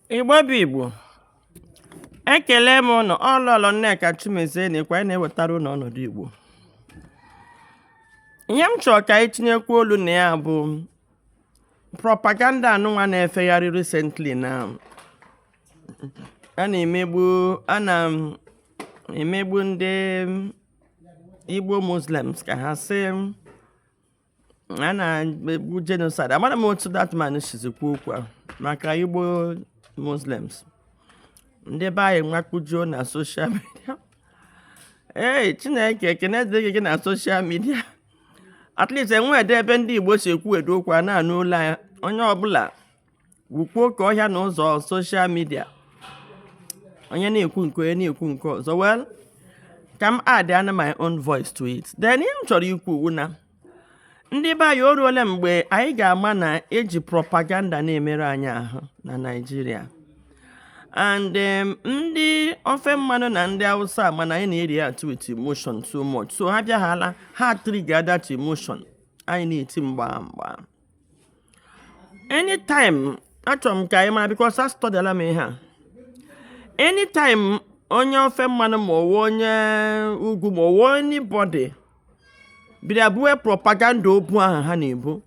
Igbo bụ Igbo ekele m ụnụ ọ Lọlọ Nneka Chimezie na-ekwu na-ewetara ụnụ ọnọdụ Igbo ihe m chọrọ ka anyị tinyekwa olu na ya bụ propaganda anụnwa na-efegharị recently na a na-emegbu ndị Igbo Muslims ka ha sị a na-egbu genocide amara m otu that man sizi kwuo okwu maka igbo muslims ndị be anyị nwakpujuo na social media ee chineke ekene dịrị gị na social media at least e nwedị ebe ndị igbo si ekwuwedị okwu a na-anụ olu ya onye ọbụla gwukpuo oke ọhịa na ụzọ social media onye na-ekwu nke onye na-ekwu nke ọzọ well ka m add ana my own voice to it then ihe m chọrọ ikwu wụ na ndị be anyị o ruola mgbe anyị ga-ama na e ji propaganda na-emerụ anyị ahụ na Naịjirịa and um, ndị ofe mmanụ na ndị awụsa mana anyị na-ereact with emotion so much so ha bịaghala ha trigger that emotion anyị na-eti mgba mgba anytime achọrọ m ka anyị mara because astudyala m ihe a anytime onye ofe mmanụ ma ọ wụ onye ugwu ma ọ wụ anybody bịara buo propaganda obu ahụ ha na-ebu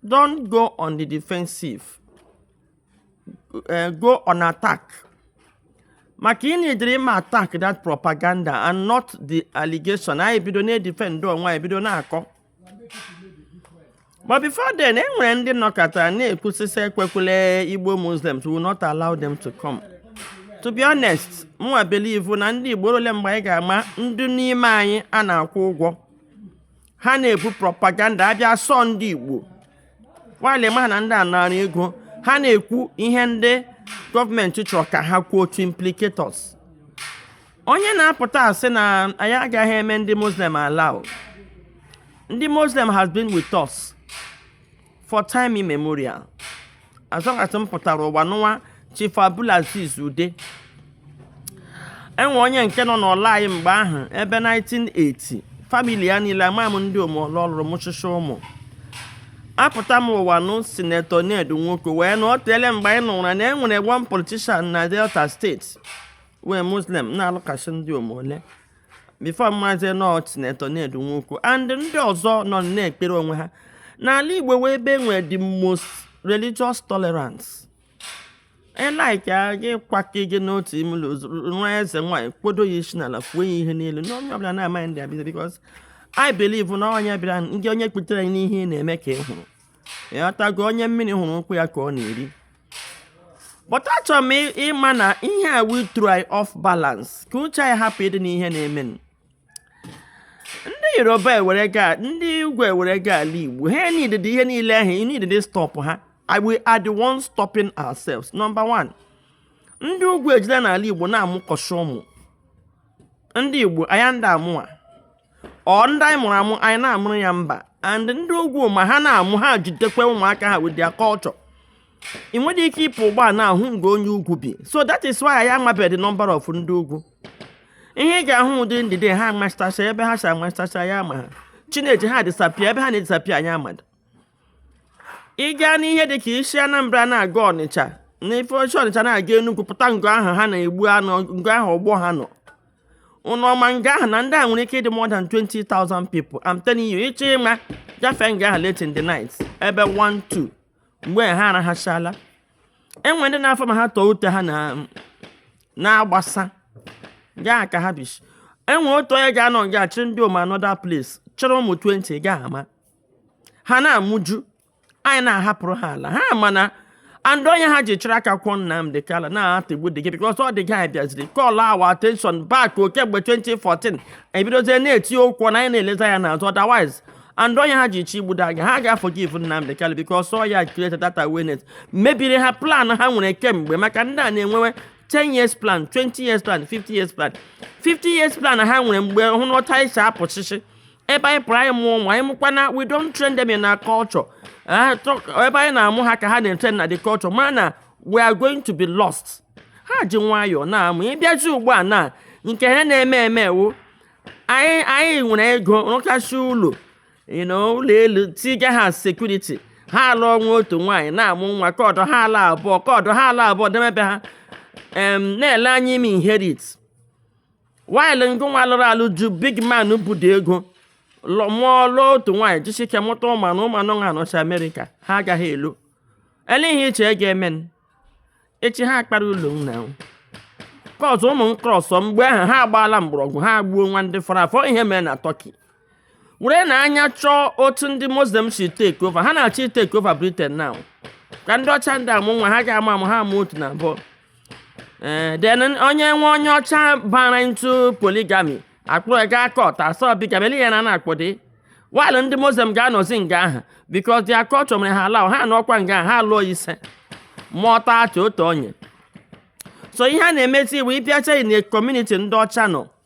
don't go on the defensive uh, go on attack maka ị needịrị ịma attack that propaganda and not the allegation anyị bido na-edefend onwe anyị bido na-akọ ma before then e nwere ndị nọkata na-ekwu sị sị ekwekwele igbo muslims we'll not allow them to come to be honest mụwa believe na ndị igbo o ruole mgbe anyị ga-ama ndị n'ime anyị a na-akwụ ụgwọ ha na-ebu propaganda a bịa sị ọ ndị igbo while a maghị na ndị a nara ego ha na-ekwu ihe ndị gọọmenti chọrọ ka ha kwuo to implicate onye na-apụta asị na anyị agaghị eme ndị muslim allow ndị muslim has been with us for time immemorial as long as m pụtara ụwa n'ụwa chief abdulaziz ude e nwere onye nke nọ n'ụlọ anyị mgbe ahụ ebe 1980 family ya niile ama m ndị ọ mụ ọ lụ ọ lụrụ mụchịsị ụmụ apụta m ụwa nụ senator ned nwoko wee na ọ teele mgbe anyị nụrụ na enwere one politician na delta state wụ muslim na-alụkasị ndị omole before a mazie na ọ senator ned nwoko and ndị ọzọ nọ na-ekpere onwe ha na ala igbo wụ ebe nwee the most religious tolerance ị like gị kwake gị n'otu ime ụlọ nwa eze nwaanyị kpodo ya isi n'ala fuo ya ihe niile na onye ọbụla na-amaghị ndị abịa because I believe na onye bịara ndị onye kputere n'ihe ị na-eme ka ị hụrụ ịghọtago onye mmiri hụrụ ụkwụ ya ka ọ na-eri but achọrọ m ịma na ihe a we try off balance ka uche anyị hapụ ịdị n'ihe na-eme ndị yoruba ewere gaa ndị ugwu ewere gaa ala igbo ha nidede ihe niile ahụ nidede stop ha we are the ones stopping ourselves number one ndị ugwu ejula n'ala igbo na-amụkasị ụmụ ndị igbo anyị adị amụ nwa ọ ndị anyị mụrụ amụ anyị na-amụrụ ya mba and ndị ugwu ma ha na-amụ ha jidekwa ụmụaka ha with their culture ị nwere ike ịpụ ugbu a na-ahụ nga onye ugwu bi so that is why anyị amabeghị the number of ndị ugwu ihe ị ga-ahụ wụ in the day ha amasịtasị ebe ha si amasịtasị anyị amaha chi na-eji ha disappear ebe ha na-edisappear anyị amada ị gaa n'ihe dị ka i si anambra na-aga ọnịcha na if ị shi ọnịcha na-aga enugwu pụta nga ahụ ha na-egbu anụ nga ahụ ọgbọ ha nọ ụnụ ọ ma nga ahụ na ndị a nwere ike ịdị more than 20,000 people I'm telling you ị chọọ ịma gafee nga ahụ late in the night ebe 1 2 mgbe ha arahachala enwe ndị na-afọ ma ha tọọ ute ha na-agbasa gaa ka ha bishi enwe otu onye ga-anọ nga chịrị ndịom another place chịrị ụmụ 20 ga ama ha na-amụju anyị na-ahapụrụ ha ala ha mana and ọ ihe ha ji chịrị aka kwụọ Nnamdi Kanu na-atagbu the guy because ọ the guy bịaziri call our attention back kemgbe 2014 ebidozie na-eti okwu na anyị na-elezie anya n'azụ otherwise and ọ ihe ha ji chọọ igbu the guy ha aga-aforgive Nnamdi Kanu because ọ ya created that awareness mebiri ha plan ha nwere kemgbe maka ndị a na-enwewe 10 years plan 20 years plan 50 years plan 50 years plan ha nwere mgbe hụ na otu anyị si apụchịchị ebe anyị pụrụ anyị mụọ ụmụ anyị mụkwana we don't train them in our culture Eh, talk- ebe anyị na-amụ ha ka ha na-etrain na the culture mara na we are going to be lost ha ji nwayọọ na-amụ ị bịazi ugbu a na nke ha na-eme eme wụ anyị anyị nwere ego rụkasị ụlọ you know, ụlọ elu tiga ha security ha alụọ nwa otu nwaanyị na-amụ nwa ka ọdọ ha ala abụọ ka ọdọ ha ala abụọ demebe ha em, na-ele anya ime inherit while ngịnwa lụrụ alụ ju big man budo ego mụọ lụọ otu nwaanyị jisi ike mụta ụmụ anọ ụmụ anọ ha nọchi amerịka ha agaghị alọ elee ihe i che ga-eme echi ha akpara ụlọ nna kọsụ ụmụ nkọsọ mgbe ahụ ha agbaala mgbọrọgwụ ha gbuo nwa ndị fọrọ afọ ihe mere na Turkey were na anya chọọ otu ndị muslim si take over ha na-achọ itake over britain now ka ndị ọcha adị amụ nwa ha ga-amụ amụ ha amụọ otu na abụọ ee eh, then onye wụ onye ọcha bara into polygamy akpụrụ ya gaa court a sị ọ bigamy ya na na-akpọ dị while ndị muslim ga-anọzi nga ahụ because their culture mere ha allow ha nọkwa nga ahụ ha lụọ ise mụọ 30 otu onye so ihe a na-emezi wụ ị bịacha in a community ndị ọcha nọ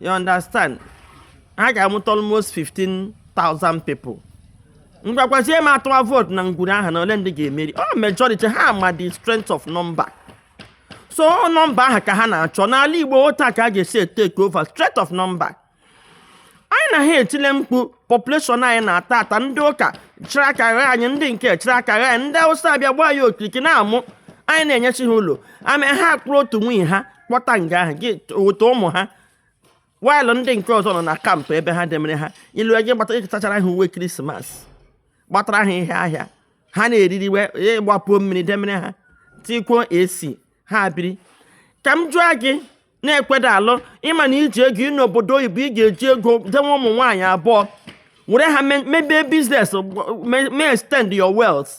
you understand ha ga-amụta almost 15,000 people ngwa gwazie m a tụwa vootu na ngwuru ahụ na ole ndị ga-emeri ọ majority ha ma the strength of number so nọmba ahụ ka ha na-achọ n'ala igbo otu a ka a ga-esi etake over strength of number anyị na ha etile mkpu population anyị na-ata ata ndị ụka chịrị aka gha anyị ndị nke chịrị aka gha anyị ndị awụsa abịa gbaa ya okirikiri na-amụ anyị na-enyechi ha ụlọ ama ha akpụrụ otu nwunye ha kpọta nga ahụ gị weta ụmụ ha while ndị nke ọzọ nọ na camp ebe ha demere ha ilu gị gbata ịtachara ha uwe krismas gbatara ha ihe ahịa ha na-eriri we ịgbapuo mmiri demere ha tikwuo AC ha biri ka m jụọ gị na-ekweda alụ ị ma na i ji ego gị n'obodo oyibo ị ga-eji ego dewe ụmụ nwaanyị abụọ were ha mebe business mee extend your wealth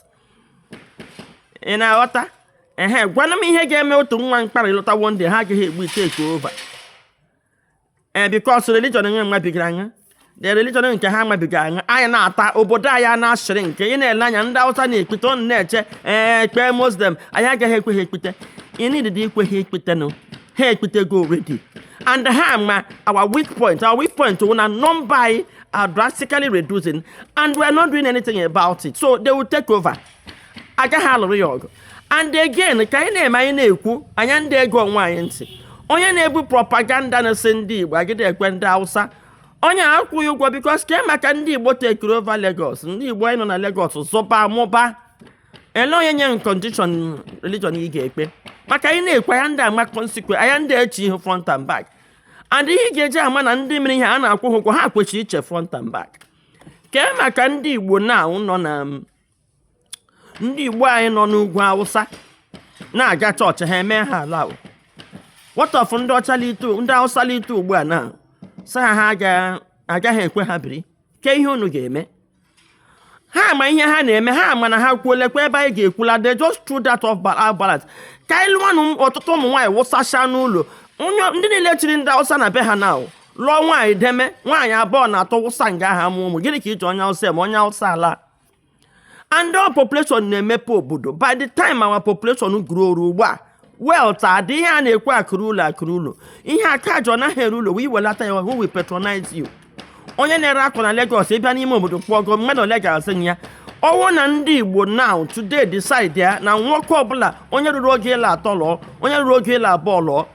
ị na-aghọta ehe gwana m ihe ga-eme otu nwa mkparị lụta one day ha agaghị egbu itake over ee because religion enwe mmabiga anya the religion nke ha mabiga anya anyị na-ata obodo anyị a na-asịrị nke ị na-ele anya ndị awụsa na-ekpete ọnụ na-eche ekpe muslim anyị agaghị ekwe ha ekpete ị needịdị ikwe ha ekpete no ha ekpetego already and ha ma our weak point our weak point wụ na nọmba anyị are drastically reducing and we are not doing anything about it so they will take over agaghị alụrụ ya ọgụ and again ka anyị na-eme anyị na-ekwu anyị anadị ege onwe anyị ntị onye na-ebu propaganda na-asị ndị igbo agịdị ekwe ndị hausa onye a akwụghị ụgwọ because kee maka ndị igbo takeiri over lagos ndị igbo anyị nọ na lagos zụba mụba ele onye nye condition religion ị ga-ekpe maka anyị na-ekwu anyị anadị ama consequence anyị anadị eche ihu front and back and ihe ị ga-eji ama na ndị mere ihe a na-akwụ ụgwọ ha kwechiri iche front and back kee maka ndị igbo na nọ na ndị igbo anyị nọ n'ugwu awụsa na-aga chọọchị ha eme ha ala what of ndị ọcha ndị awụsa lite ugbu a na sị ha ha agaghị ekwe ha biri ke ihe unu ga-eme ha ma ihe ha na-eme ha ma na ha kwuolekwa ebe anyị ga-ekwula they just throw that off balance ka anyị lụọnụ ọtụtụ ụmụ nwaanyị wụsacha n'ụlọ ndị niile chiri ndị awụsa na be ha na lụọ nwaanyị deme nwaanyị abụọ na atọ wụsa nga ha mụ ụmụ gịnị ka i ji onye awụsa eme onye awụsa ala and our population na-emepe obodo by the time our population growru ugbu a wealth adị ihe a na-ekwu akụrụ ụlọ akụrụ ụlọ ihe aka jọ naghị ere ụlọ wee welata ya who will patronize you onye na-ere akwa na Lagos ị bịa n'ime obodo kpọgo mmadụ ole ga-azụ ya ọ wụ na ndị Igbo now today decide ya na nwoke ọbụla onye ruru oge ịlụ atọ lụọ onye ruru oge ịlụ abụọ lụọ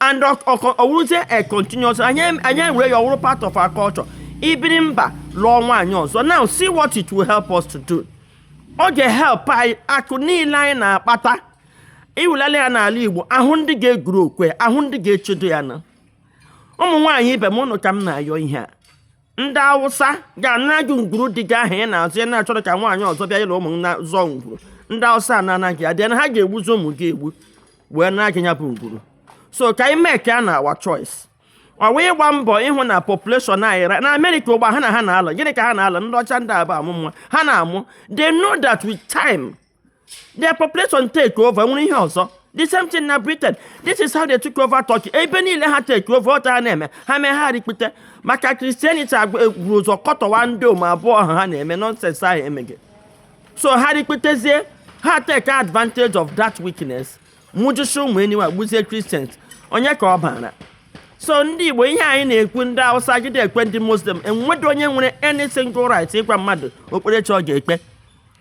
and ọ wụrụzie a continuous anyị ewere ya ọ wụrụ part of our culture ibiri mba lụọ nwaanyị ọzọ now see what it will help us to do ọ ga-help anyị akụ niile anyị na-akpata iwulata ya n'ala igbo a hụ ndị ga-eguru okwe a hụ ndị ga-echedo ya na ụmụ nwaanyị ibe m ụnụ ka m na-ayọ ihe a ndị awụsa ga-ana gị ngwuru di gị ahụ ị na-azọ ya na-achọrọ ka nwaanyị ọzọ bịa ịlụ ụmụ na zọọ ngwuru ndị awụsa a na-anaghị adịa na ha ga-egbuzi ụmụ gị egbu wee na gị ya bụ ngwuru so ka anyị mee ka a na our choice ọ wụ ịgba mbọ ịhụ na population anyị na amerịka ugbu a na ha na-alụ gịnị ka ha na-alụ ndị ọcha ndị abụ amụ nwa ha na-amụ they know that with time their population take over nwere ihe ọzọ the same thing na britain this is how they took over turkey ebe niile ha take over otu ha na-eme ha mee ha rikpute maka christianity wuru ụzọ kọtọwa ndị ụmụ abụọ ahụ ha na-eme nonsense ahụ emeghị so ha rikputezie ha take advantage of that weakness mụjusie ụmụ anywhere gbuzie christians onye ka ọ bara so ndị igbo ihe anyị na-ekwu ndị awụsa gide ekwe ndị muslim enwedo onye nwere any single right ịgwa mmadụ okpukperechi ọ ga-ekpe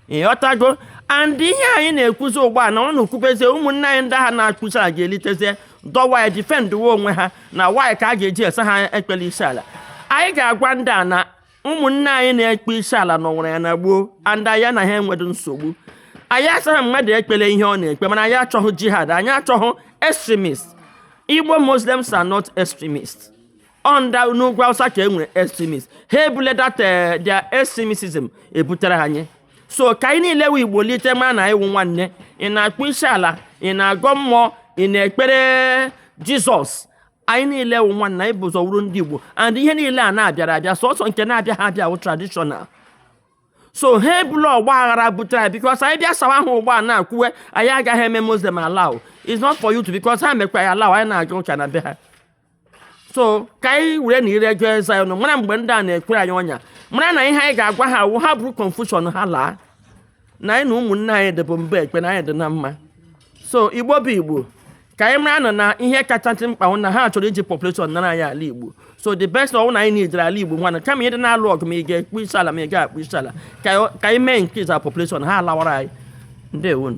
ịghọtago and ihe anyị na-ekwuzi ugbu a na ọ na-ekwubezie ụmụnne anyị ndị ahụ na-akpọ isi ala ga-elitezie dọwa ya defendụwa onwe ha na why ka a ga-eji asị ha ekpela isi ala anyị ga-agwa ndị a na ụmụnne anyị na-ekpe isi ala nọwuru ya na gboo and anyị na ha enwedo nsogbu anyị asịghị mmadụ ekpela ihe ọ na-ekpe mana anyị achọghị jihad anyị achọghị extremist igbo muslims are not extremists ọnda n'ugwu awụsa ka e nwere extremist ha ebule that eh, their extremism ebutere anyị so ka anyị niile wụ igbo lite ma na anyị wụ nwanne ị na-akpọ isi ala ị na-agọ mmụọ ị na-ekpere jizọs anyị niile wụ nwanne anyị bu ụzọ wụrụ ndị igbo and ihe niile a na-abịara abịa sọsọ nke na-abịaghị abịa wụ traditional so ha ebula ọgba aghara butere anyị because anyị bịa sawa ahụ ugbu a na-ekwuwe anyị agaghị eme muslim allow it's not for you to because ha mekwa anyị allow anyị na-aga ụka na be ha so ka anyị werenụ ire gụọ eze anyị ọnụ mara mgbe ndị a na-ekwere anyị ọnya mara na ihe anyị ga-agwa ha wụ ha buru confusion ha laa na anyị na ụmụnne anyị dịbụ mba ekpe na anyị dị na mma so igbo bụ igbo ka anyị maranụ na ihe kachasị mkpa wụ na ha chọrọ iji population nara anyị ala igbo so the best ọ wụ na anyị nidere ala igbo nwana kama ịdị na-alụ ọgụ ma ị ga-akpọ isi ala ma ị ga-akpọ isi ala ka anyị mee increase our population ha alawara anyị ndewonụ